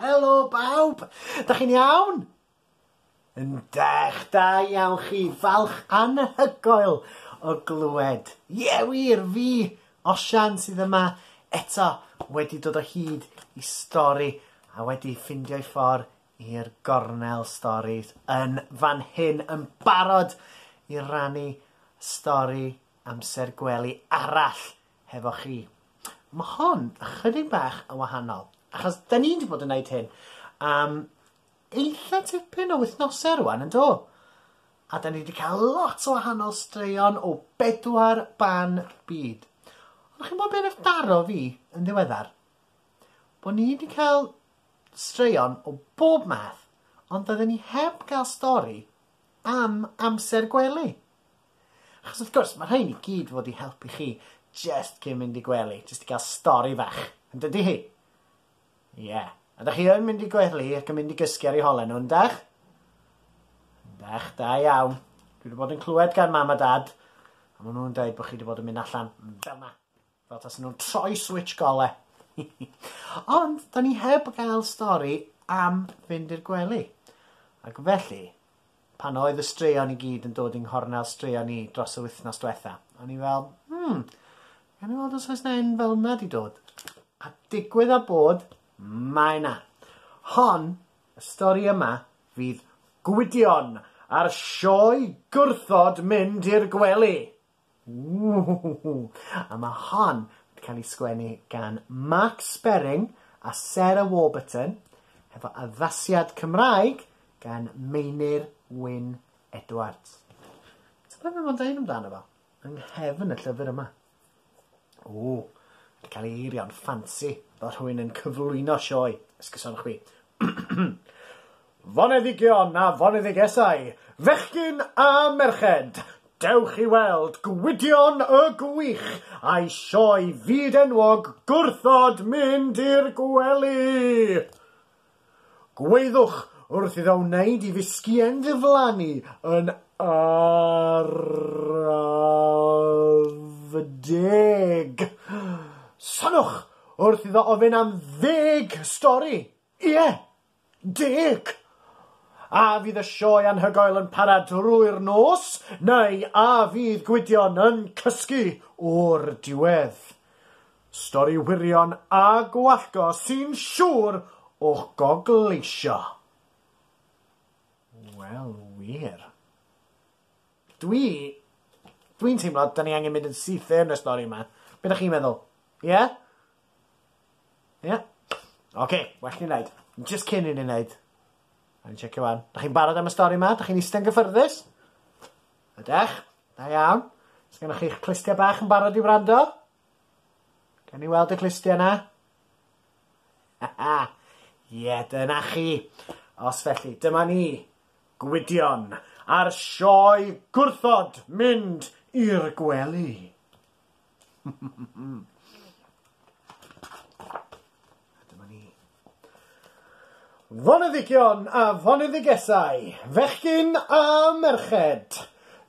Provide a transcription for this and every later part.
Helo bawb! Da chi'n iawn? Yndech, da iawn chi, falch anhygoel o glywed. Ie yeah, wir, fi, Osian, sydd yma eto wedi dod o hyd i stori a wedi ffindio i ffordd i'r gornel storis yn fan hyn yn barod i rannu stori amser gwely arall hefo chi. Mae hon ychydig bach yn wahanol, achos da ni'n wedi bod yn gwneud hyn am eitha tipyn o wythnosau rwan, yn do? A da ni wedi cael lot o wahanol straeon o bedwar ban byd. Ond chi'n bod beth daro fi yn ddiweddar? Bod ni wedi cael straeon o bob math, ond da ni heb gael stori am amser gwely. Achos wrth gwrs, mae rhain i gyd fod i helpu chi jest cyn mynd i gwely, jest i gael stori fach, yn dydy hi? Ie. Yeah. A da chi yn mynd i gwely ac yn mynd i gysgu ar ei holen nhw, yndach? Yndach, da iawn. Dwi wedi bod yn clywed gan mam a dad, a maen nhw'n dweud bod chi wedi bod yn mynd allan fel yna. Fel tasen nhw'n troi switch gole. Ond, da ni heb gael stori am fynd i'r gwely. Ac felly, pan oedd y straeon i gyd yn dod yng nghornel straeon ni dros y wythnos diwetha, o'n i fel, hmm, gan i weld os oes na un fel yna di dod. A digwydd a bod, mae na. Hon, y stori yma, fydd Gwydion a'r sioe gwrthod mynd i'r gwely. Ww! A ma' hon wedi cael ei sgwennu gan Mark Sperring a Sarah Warburton, hefo addasiad Cymraeg gan Meinir Wyn Edwards. Tybed be mae'n dweud amdano fo? Yng nghefn y llyfr yma. Ww, wedi cael ei eirio'n ffansi fel rhywun yn cyflwyno sioe, esgusodwch fi. Foneddigion a foneddigesau, fechgyn a merched, dewch i weld Gwydion y Gwych a'i sioe fyd-enwog Gwrthod Mynd i'r Gwely! Gweithwch wrth iddo wneud i fisgïen ddiflannu yn araf deg! Soniwch wrth iddo ofyn am ddeg stori! Ie! Dic! A fydd y sioe anhygoel yn para drwy'r nos, neu a fydd Gwydion yn cysgu o'r diwedd? Stori wirion a gwallgo sy'n siŵr o'ch gogleisio. Wel, wir. Dwi... Dwi'n teimlo, da ni angen mynd yn syth yn y stori yma. Be da chi'n meddwl? Ie? Ia? Oce, well ni wneud. Just cyn i ni wneud. A'n checio wan. Da chi'n barod am y stori yma? Da chi'n eistedd gyffyrddus? Ydech? Da iawn. Os gennych chi'ch clustiau bach yn barod i wrando? Gawn ni weld y clustiau yna? Ie, yeah, dyna chi. Os felly, dyma ni. Gwydion a'r sioe gwrthod mynd i'r gwely. Dyma ni. Foneddigion a foneddigesau, fechgyn a merched,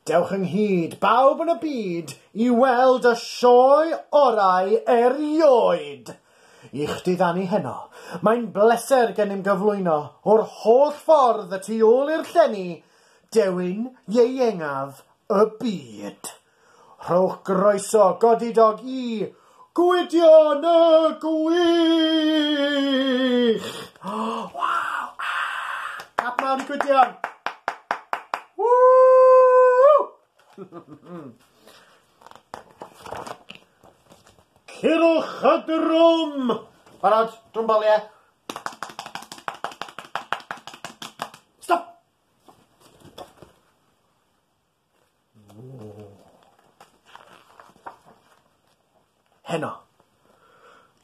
dewch ynghyd, bawb yn y byd, i weld y sioe orau erioed! I'ch diddanu heno, mae'n bleser gennym gyflwyno, o'r holl ffordd y tu ôl i'r llenni, dewin ieuengaf y byd. Rhowch groeso godidog i Gwydion y Gwych! Waw! Clap mawr i Gwydion! Cyrwch y drwm! Barod? Drwm bol, ie? Heno,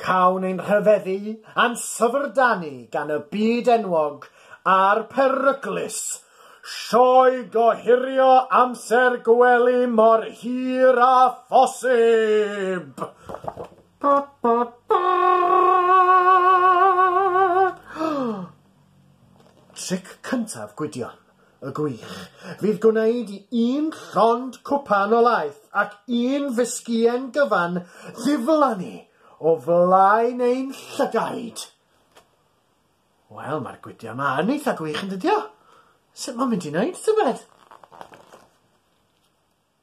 cawn ein rhyfeddu a'n syfrdanu gan y byd enwog a'r peryglus, sioe gohirio amser gwely mor hir â phosib! Tric cyntaf Gwydion. y gwych, fydd gwneud i un llond cwpan o laeth ac un fisgïen gyfan ddiflannu o flaen ein llygaid! Wel, mae'r gwydiau yma yn eitha gwych, yn dydio? Sut mae'n mynd i wneud tybed?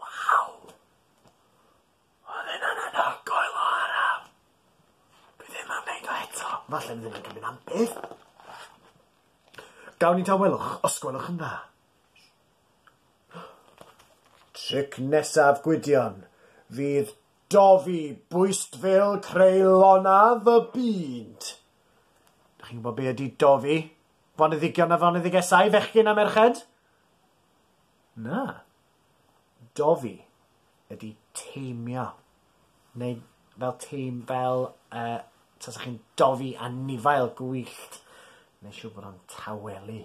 Waw! Oedd hynna'n anhygoel o araf! Dwi ddim am neud o eto. Falle ni ddim yn cymryd am byth. Gawn ni dawelwch, os gwelwch yn dda. Tric nesaf Gwydion fydd dofi bwystfil creulona fy byd. Dych chi'n gwybod be ydy dofi? Foneddigion a foneddigesau, fechgyn a merched? Na. Dofi ydi teimio. Neu fel teim- fel yy tasa chi'n dofi anifail gwyllt. Neu siŵr bod o'n tawelu.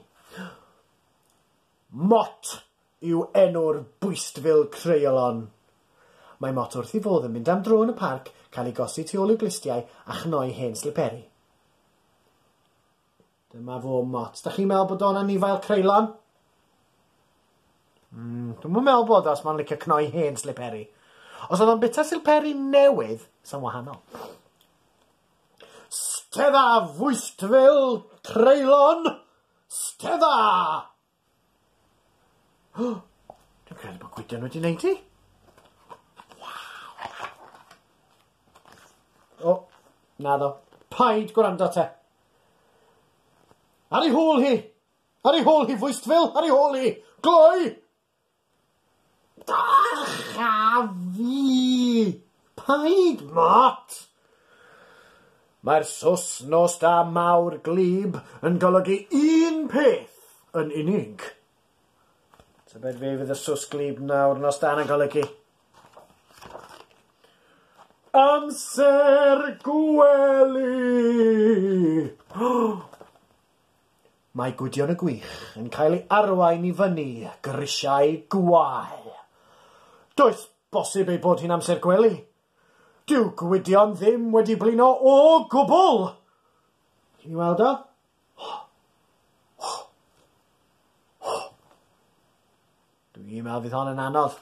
Mot yw enw'r bwystfil creialon. Mae Mot wrth ei fodd yn mynd am dro yn y parc, cael ei gosi tu ôl i'w glustiau a chnoi hen sliperi. Dyma fo mot. Da chi'n meddwl bod o'n anifail creulon? Mm, dwi'n mwyn meddwl bod os mae'n licio cnoi hen sliperi. Os oedd o'n bita sliperi newydd, sy'n wahanol. Stedda fwystfil creulon! Stedda! Dwi'n credu bod Gwydion wedi neud hi. O, na ddo. Paid gwrando te. Ar ei hôl hi! Ar ei hôl hi, fwystfil! Ar ei hôl hi! Gloi! Ych a fi! Paid mot! Mae'r sos nos da mawr glib yn golygu un peth yn unig. Tybed fe fydd y sos glib nawr nos da yn golygu? Amser gwely! Mae Gwydion y Gwych yn cael ei arwain i fyny grisiau gwael. Does bosib ei bod hi'n amser gwely? Dyw Gwydion ddim wedi blino o gwbl! Chi'n ei weld o? Dw i'n meddwl fydd hon yn anodd.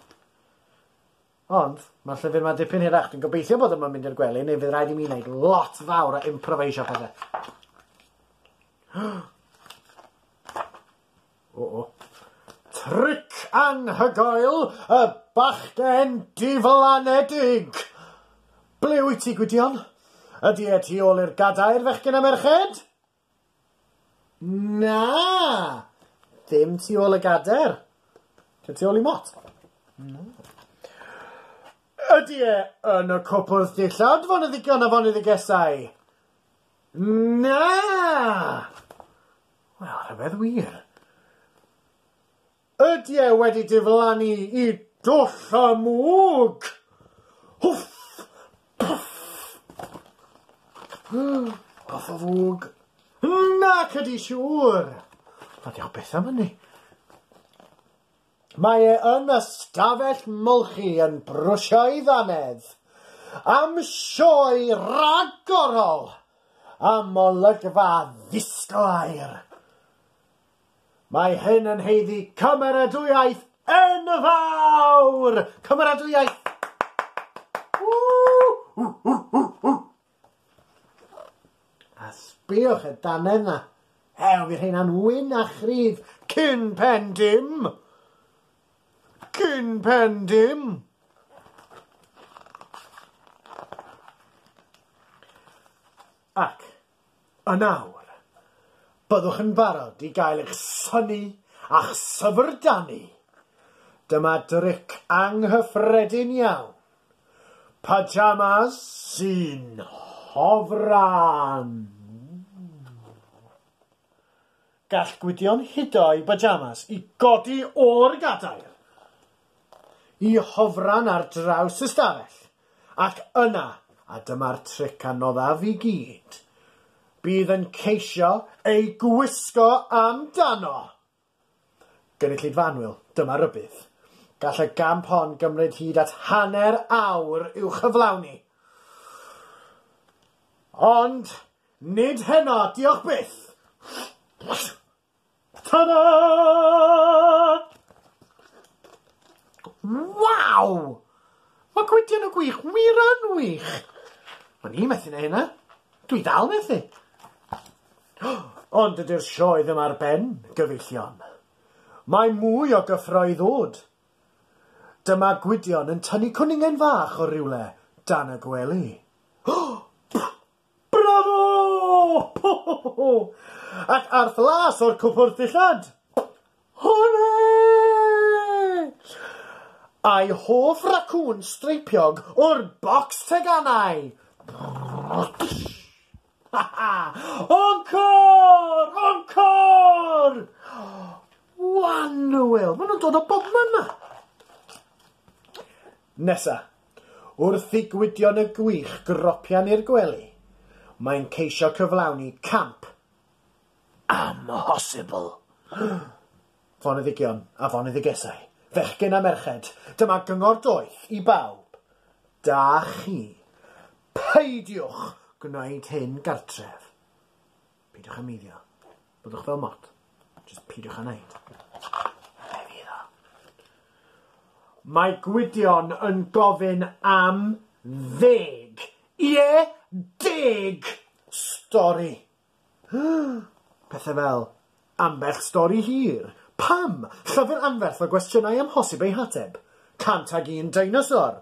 Ond, mae'r llyfr ma dipyn hirach. Dwi'n gobeithio bod yma'n mynd i'r gwely, neu fydd rhaid i mi wneud lot fawr o improvisio pethau. O, o. Tric anhygoel y bachgen diflanedig! Ble wyt ti, Gwydion? Ydy e tu ôl i'r gadair, fechgyn a merched? Na! Dim tu ôl y gader. Dim tu ôl i mot. Na. Ydy e yn y cwpwrdd dillad, foneddigon a foneddigesau? Na! Wel, rhyfedd wir. Ydy e wedi diflannu i dwll y mwg? Hwff! Pwff! Off y fwg. Nac ydy siŵr! Mae diolch beth am hynny. Mae e yn y stafell molchi yn brwsio ei ddannedd am sioe ragorol am olygfa ddisglair. Mae hyn yn heiddi cymeradwyaeth enfawr! Cymeradwyaeth! A sbïwch y dannedd na. Ew, fi rheina'n wyn a chryf cyn pen dim. Cyn pen dim. Ac A nawr, byddwch yn barod i gael eich synnu a'ch syfrdanu? Dyma dric anghyffredin iawn, pyjamas sy'n hofran! Gall Gwydion hudo'i bajamas i godi o'r gadair i hofran ar draws y stafell, ac yna, a dyma'r tric anoddaf i gyd, bydd yn ceisio ei gwisgo amdano! Gynulleidfa annwyl, dyma rybudd. Gall y gamp hon gymryd hyd at hanner awr i'w chyflawni. Ond, Nid heno, diolch byth! Ta-da! Waw! Mae gwydion y gwych wir yn wych! O'n i methu neu hynna. Dwi dal methu. Ond ydy'r sioe ddim ar ben, gyfeillion. Mae mwy o gyffro i ddod. Dyma Gwydion yn tynnu cwningen fach o rywle dan y gwely. Bravo! Ho ho ho ho! Ac arth las o'r cwpwrdd dillad! Hwrê! A'i hoff racŵn streipiog o'r bocs teganau! Ha ha! Encore! Encore! Wanwl! Maen nhw'n dod o bobman 'ma! Nesa, wrth i Gwydion y Gwych gropian i'r gwely, mae'n ceisio cyflawni camp amhosibl. Foneddigion a foneddigesau, fechgyn a merched, dyma gyngor doeth i bawb, da chi, peidiwch gwneud hyn gartref. Peidiwch â meiddio. Byddwch fel mort. Just peidiwch â neud. Be fydd o? Mae Gwydion yn gofyn am ddeg. Ie, yeah, deg! Stori. Pethau fel, ambell stori hir. Pam? Llyfr anferth o gwestiynau amhosib eu hateb. Cant ag un deinosor.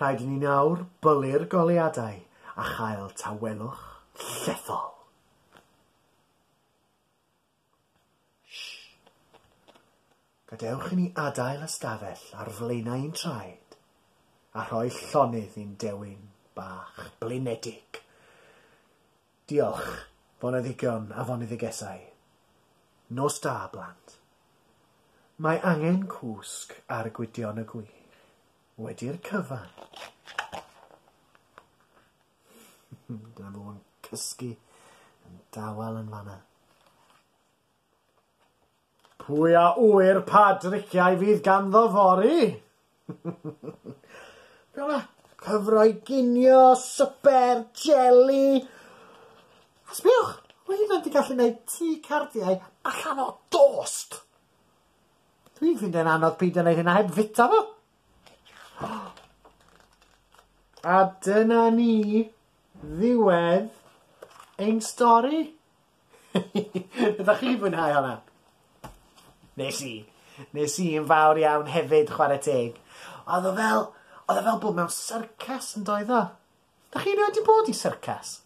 Rhaid i ni nawr bwli'r goleuadau a chael tawelwch llethol. Gadewch i ni adael ystafell ar flaenau i'n traed a rhoi llonydd i'n dewin bach blinedig. Diolch, foneddigion a foneddigesau. Nos da, blant. Mae angen cwsg ar Gwydion y Gwych. Wedi'r cyfan. Dyna fo'n cysgu yn dawel yn fanna. Pwy a ŵyr pa driciau fydd ganddo fory? Be o'na? Cyfroi ginio, swper, jeli. A sbiwch, mae hynna'n di gallu gwneud tŷ cardiau allan o dost. Dwi'n ffind e'n anodd peidio gwneud hynna heb fita fo. A dyna ni ddiwedd ein stori. Ydach chi 'di mwynhau honna? Nes i. Nes i yn fawr iawn hefyd chware teg. Odd o fel odd o fel bod mewn syrcas yn doedd o? Dach chi erioed 'di bod i syrcas?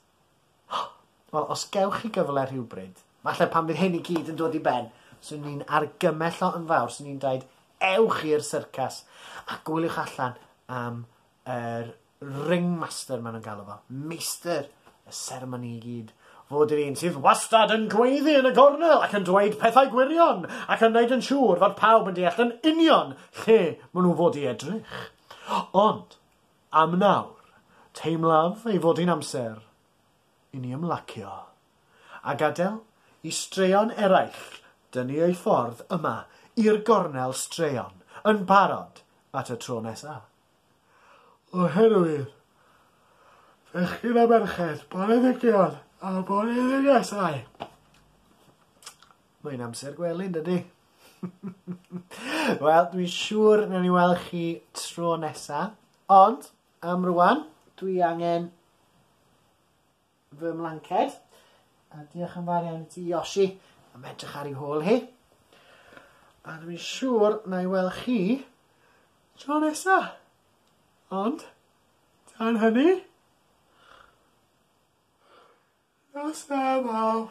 Wel os gewch chi gyfle rhywbryd, falle pan fydd hyn i gyd yn dod i ben, swn i'n argymell o yn fawr, swn i'n dweud, ewch i'r syrcas a gwyliwch allan am yr ringmaster maen nhw'n galw fo, meistr y seremoni i gyd, fod yr un sydd wastad yn gweiddi yn y gornel ac yn dweud pethau gwirion ac yn wneud yn siŵr fod pawb yn deall yn union lle maen nhw fod i edrych. Ond, am nawr, teimlaf ei fod hi'n amser i ni ymlacio a gadael i straeon eraill dynnu eu ffordd yma i'r gornel straeon yn barod at y tro nesaf. oherwydd fechgyn a merched, boneddigion a boneddigesau. Mae'n amser gwely, dydy? Wel, dwi'n siŵr na ni weld chi tro nesa, ond am rwan, dwi angen fy mlanced. A diolch yn fawr iawn i ti Yoshi am edrych ar ei hôl hi. A dwi'n i'n siŵr na i weld chi tro nesa. Ond, tan hynny, nos da mawr.